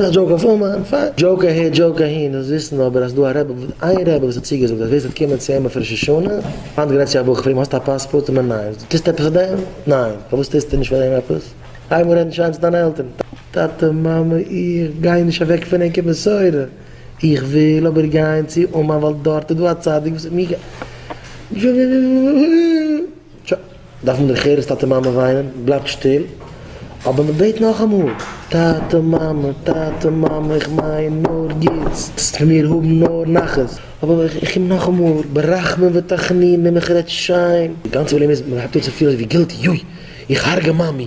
א דזשאוק אויף אומאן? פיין. דזשאוק אהער דזשאוק אהין, אונז וויסן אבער אז דא א רבי, איין רבי וואס האט צוגעזאגט אז ווער ס'וועט קומען צו אים אויף ראש השנה, היינט גרייט זיך א וואך פרום, האסט א פאספארט? מיר ניין. טוסט עפעס פאר דעם? ניין. פארוואס טוסטו נישט פאר דעם עפעס? הייב אן רעדן שיין צו דיינע עלטערן. טאטע מאמע איך גיי נישט אוועק פון ענק קיין מסורה, איך וויל אבער גיין צו אומאן ווייל דארט איז דא א צדיק וואס האט מיר גע. טשא, דארף מען דער חירות טאטע מאמע וויינען, בלייבט שטיל, אבער מען בעט נאכאמאל, טאטע מאמע, טאטע מאמע, איך מיין נאר גוטס, זאלסט פון מיר האבן נאר נחת, אבער איך קום נאכאמאל, ברחמים ותחנונים, איך רעד שיין. די גאנצע פראבלעם איז, מען הייבט אן צו פילן ווי גילטי, יוי, איך הרג'ע מאמי,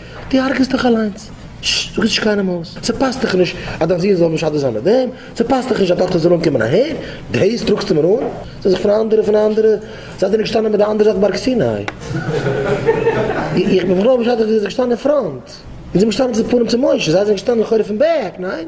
דו הרג'סט דיך אליינס. ששש, זאג עס נישט קיינעם אויס. ס'פאסט דיך נישט אז דיין זון זאל משדך זיין מיט דעם. ס'פאסט דיך נישט אז טאכטער זאל אנקומען אהער. דעיס טראגסטו מיר אן? זיי זיך פון אנדערע, פון אנדערע. זייט איר געשטאנען מיט די אנדערע זייט בארג סיני. איך בין בכלל משדך ווי איר זענט געשטאנען אין פראנט. איר זענט געשטאנען צו די פנים צו משה. זיי זענען געשטאנען לכאורה פון בעק, ניין?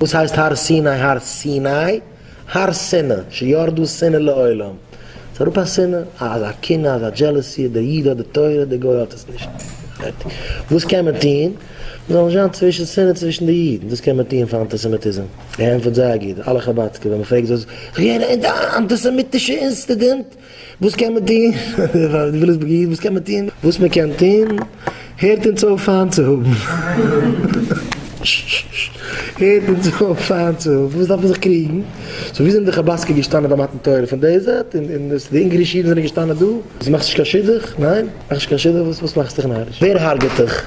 וואס הייסט הר סיני? הר סיני? הר שנאה, שירדו שנאה לעולם, ס'איז אראפ א שנאה, א אזא קנאה, אזא דזשעלעסי, דער איד האט די תורה, דער גוי האט עס נישט, פארטיג. וואס קען מען טוהן? מען זאל נישט זיין צווישן שנאה צווישן די אידן, דאס קען מען טוהן פאר אנטיסעמיטיזם, געענטפערט זייער גוט, אלע חבד'סקע ווען מען פרעגט זאגן זיי, איך בין געווען א אנטיסעמיטישע אינסטידענט, וואס קען מען טון? וויליסבורגער איד, וואס קען מען טון? וואס מען קען טון? הערט אונז אויף פיינט צו האבן. הערט אונז אויף פיינט צו האבן. וואס דארף מען זיך קריגן? סאו ווי זענען די חבדסקער געשטאנען ביי מתן תורה? פון די זייט? און און וואס די אונגארישע אידן זענען געשטאנען דא? וואס מאכסט נישט קיין שידוך? ניין? מאכסט נישט קיין שידוך? וואס וואס מאכסט דיך נאריש? ווער הארגעט דיך?